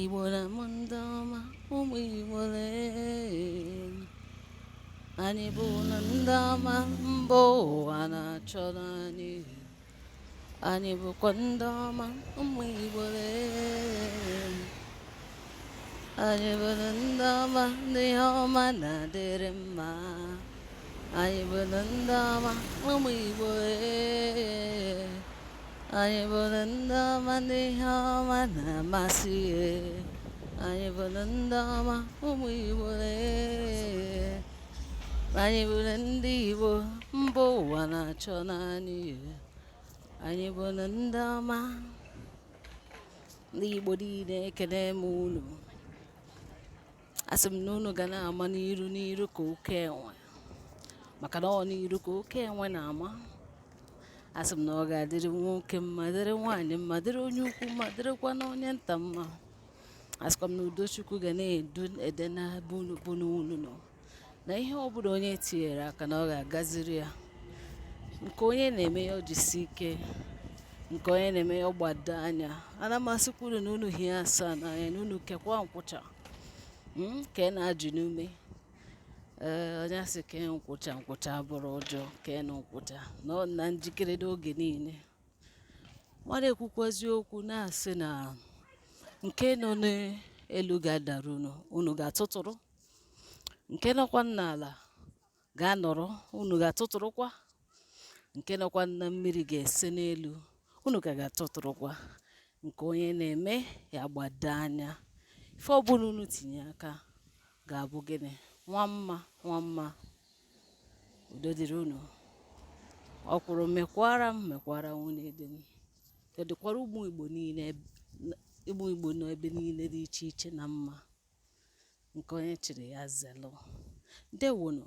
Igbo na m ndị ọma ụmụ Igbo lee anyị bụ na ndị ọma mba ụwa na-achọ anyị anyị bụkwa ndị ọma ụmụ Igbo lee anyị bụrụ ndị ọma ndị ihe ọma na-adịrị mma anyị bụrụ ndị ọma ụmụ Igbo Anyị bụrụ ndị ọma ndị ihe ọma na-amasị. Anyị bụrụ ndị ọma ụmụ Igbo ee. Anyị bụrụ ndị Igbo mba ụwa na-achọ anyị. Anyị bụrụ ndị ọma ndị Igbo niile ekele m unu. Asị m na unu ga na-ama n'iru n'iru ka oke enwe maka na ọ n'iru ka oke enwe na-ama. asị m na ọ ga-adịrị nwoke mma dịrị nwaanyị mma dịrị onye ukwu mma dịrịkwa na onye nta mma asịkwa m na udo Chukwu ga na-edu ebe ọ bụna unu nọ na ihe ọ bụla onye tinyere aka na ọ ga-agaziri ya nke onye na-eme ya o jisi ike nke onye na-eme ya ọ gbado anya ana m asịkwuru na unu hie asaa n'anya na unu kekwa nkwụcha hmm, ka ị na-ajụ n'ume ee onye asị kee nkwụcha nkwụcha abụrọ ụjọ keenụ nkwụcha nọ na njikere n'oge niile mmadụ ekwukwazi okwu na-asị na nke nọ n'elu ga-adara unu unu ga-atụtụrụ nke nọkwa n'ala ga-anọrọ unu ga-atụtụrụkwa nke nọkwa na mmiri ga-ese n'elu unu ka ga-atụtụrụkwa nke onye na-eme ya gbado anya ife ọbụla unu tinye aka ga-abụ gịnị nwa mma nwa mma udo dịrị unu ọkwụrụ mịkwara m mịkwara nwunye di m ka ọ dịkwara ụmụ Igbo n'ebe niile dị iche iche na mma nke onye chịrị ya zelụ ndewonu